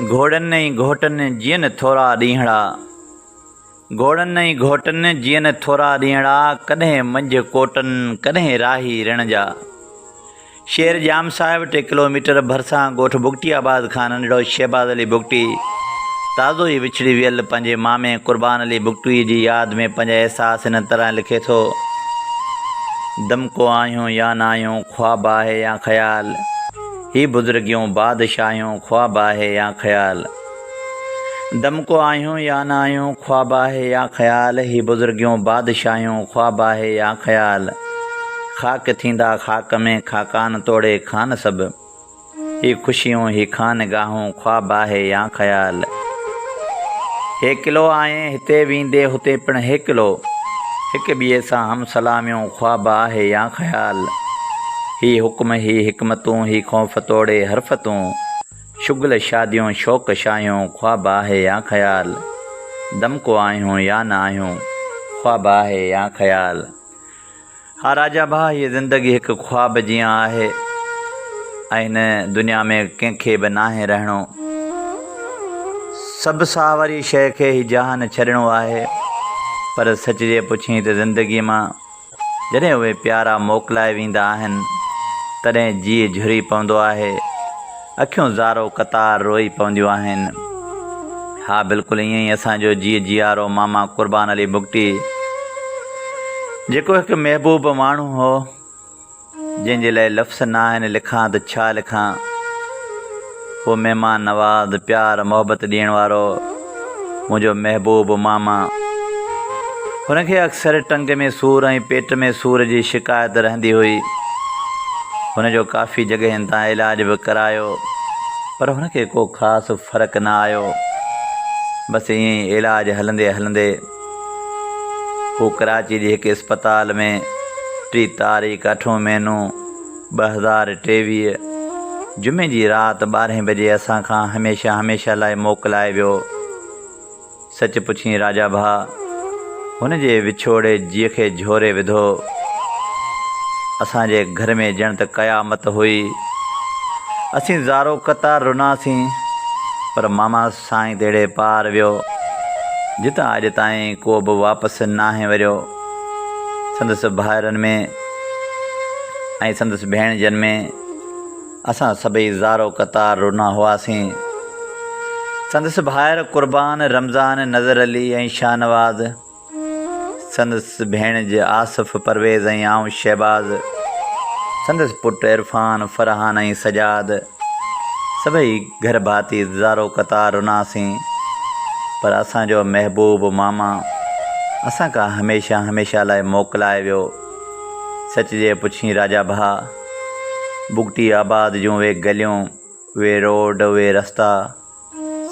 گهوڙن ۽ گهوٽن جيئن ٿورا ڏينهڙا. گهوڙن ۽ گهوٽن جيئن ٿورا ڏينهڙا، ڪڏهن منجهه ڪوٽن، ڪڏهن راهي رڻ جا. شير ڄام صاحب ٽي ڪلو ميٽر ڀرسان ڳوٺ بگٽي آباد کان ننڍڙو شهباز علي بگٽي تازو ئي وڇڙي ويل پنهنجي مامي قربان علي بگٽويء جي ياد ۾ پنهنجا احساس هن طرح لکي ٿو. دمڪو آهيون يا نه آهيون، خواب آهي يا خيال، هي بزرگيون بادشاهيون، خواب آهي يا خيال. دمڪو آهيون يا نه آهيون، خواب آهي يا خيال، هي بزرگيون بادشاهيون، خواب آهي يا خيال. خاڪ ٿيندا خاڪ ۾، خاقان توڙي خان سڀ. هي خوشيون، هي خانگاهون، خواب آهي يا خيال. هيڪلو آهين هتي ويندي هتي پڻ هيڪلو. هڪ ٻئي سان هم سلاميون، خواب آهي يا خيال. هي حڪم، هي حڪمتون، هي خوف توڙي حرفتون. شغل شاديون، شوق شاهيون، خواب آهي يا خيال. دمڪو آهيون يا نه آهيون، خواب آهي يا خيال. ها راجا ڀاء هيء زندگي هڪ خواب جيان آهي ۽ هن دنيا ۾ ڪنهن کي به ناهي رهڻو. سڀ ساهه واري شيء کي هي جهان ڇڏڻو آهي. پر سچ جي پڇين ته زندگي مان جڏهن اهي پيارا موڪلائي ويندا آهن تڏهن جيء جهري پوندو آهي. اکيون زارو قطار روئي پونديون آهن. ها بلڪل ائين ئي اسان جو جيء جيارو ماما قربان علي بگٽي جيڪو هڪ محبوب ماڻهو هو جنهن جي لاء لفظ ناهن لکان ته ڇا لکان هو مهمان نواز پيار محبت ڏيڻ وارو منهنجو محبوب ماما. هن کي اڪثر ٽنگ ۾ سور ۽ پيٽ ۾ سور جي شڪايت رهندي هئي. هن جو ڪافي جڳهين تان علاج به ڪرايو پر هن کي ڪو خاص فرق نه آيو. بس ائين ئي علاج هلندي هلندي هو ڪراچي جي هڪ اسپتال ۾ ٽي تاريخ اٺون مهينو ٻه هزار ٽيويهه جمعي جي رات ٻارهين بجي اسان کان هميشه هميشه لاء موڪلائي ويو. سچ پڇين راجا ڀاء، هن جي وڇوڙي جيء کي جهوري وڌو. اسان جي گهر ۾ ڄڻ ته قيامت هئي. اسين زارو قطار رناسين، پر ماما سائين تهڙي پار ويو، جتان اڄ تائين ڪو به واپس ناهي وريو. سندس ڀائرن ۾ ۽ سندس ڀيڻجن ۾ اسان سڀئي زارو قطار رنا هئاسين. سندس ڀائر قربان، رمضان، نظر علي ۽ شاهنواز، سندس ڀيڻج آصف، پرويز ۽ آئون شهباز، سندس پٽ عرفان، فرحان ۽ سجاد سڀئي گهر ڀاتي زارو قطار رناسين پر اسان جو محبوب ماما اسان کان هميشه هميشه لاء موڪلائي ويو. سچ جي پڇين راجا ڀاء، بگٽي آباد جون اهي گليون، اهي روڊ، اهي رستا،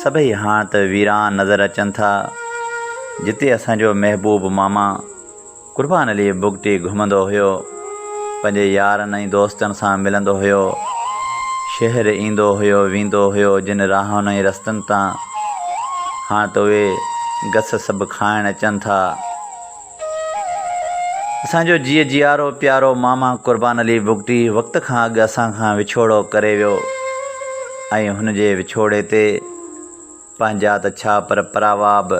سڀئي هاڻ ته ويران نظر اچن ٿا، جتي اسان جو محبوب ماما قربان علي بگٽي گهمندو هيو، پنهنجي يارن ۽ دوستن سان ملندو هيو، شهر ايندو هيو ويندو هيو، جن راهن ۽ رستن تان هاڻ ته اهي گس سڀ کائڻ اچن ٿا. اسان جو جيء جيارو پيارو ماما قربان علي بگٽي وقت کان اڳ اسان کان وڇوڙو ڪري ويو ۽ هن جي وڇوڙي تي پنهنجا ته ڇا پر پراوا به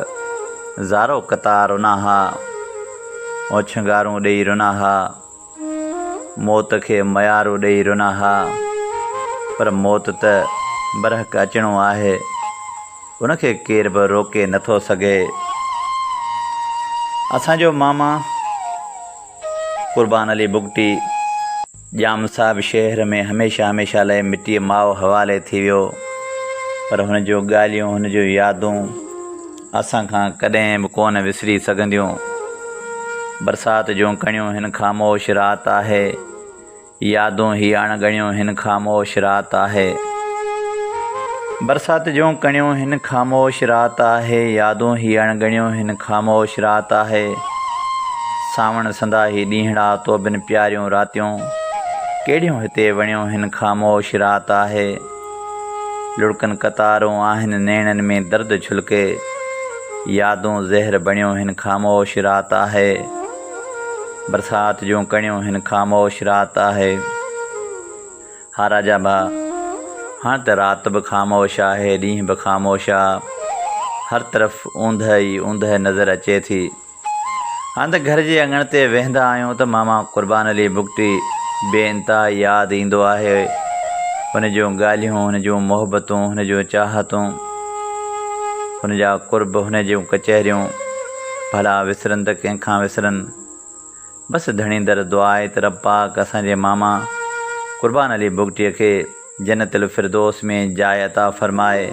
زارو قطار رنا ها، اوڇنگارون ڏيئي رنا ها. موت کي ميارو ڏئي رنا ها، پر موت ته برحق اچڻو آهي، ان کي ڪير به روڪي نه ٿو سگهي. اسان جو ماما قربان علي بگٽي ڄام صاحب شهر ۾ هميشه هميشه لاء مٽيء ماء حوالي ٿي ويو، پر هن جون ڳالهيون، هن جون يادون، اسان کان ڪڏهن به ڪونه وسري سگهنديون. برسات جون ڪڻيون هن خاموش رات آهي. يادون هي اڻڳڻيون هن خاموش رات آهي. برسات جون ڪڻيون هن خاموش رات آهي. يادون هي اڻڳڻيون هن خاموش رات آهي. سانوڻ سندا هي ڏينهڙا توبن پياريون راتيون ڪهڙيون هتي وڻيون هن خاموش رات آهي. لڙڪن قطارون آهن نيڻن ۾ درد جهلڪي يادون زهر بڻيو هن خاموش رات آهي برسات جون ڪڻيون هن خاموش رات آهي ها راجا ڀا هاڻ ته رات به خاموش آهي ڏينهن به خاموش آ هر طرف اوندهه ئي اوندهه نظر اچي ٿي. هنڌ گهر جي اڱڻ تي ويهندا آهيون ته ماما قربان علي بگٽي بي انتها ياد ايندو آهي. هن جون ڳالهيون، هن جون محبتون، هن جون چاهتون، هن جا قرب، هن جون ڪچهريون ڀلا وسرن ته ڪنهن کان وسرن. بس ڌڻي در دعا آهي ته رب پاڪ اسان جي ماما قربان علي بگٽي کي جنت الفردوس ۾ جاء عطا فرمائي.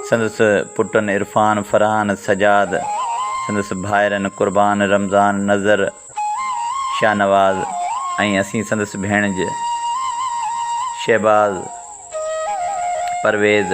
سندس پٽن عرفان، فرحان، سجاد، سندس ڀائرن قربان، رمضان، نذر، شاهنواز ۽ اسين سندس ڀيڻج، شهباز، پرويز،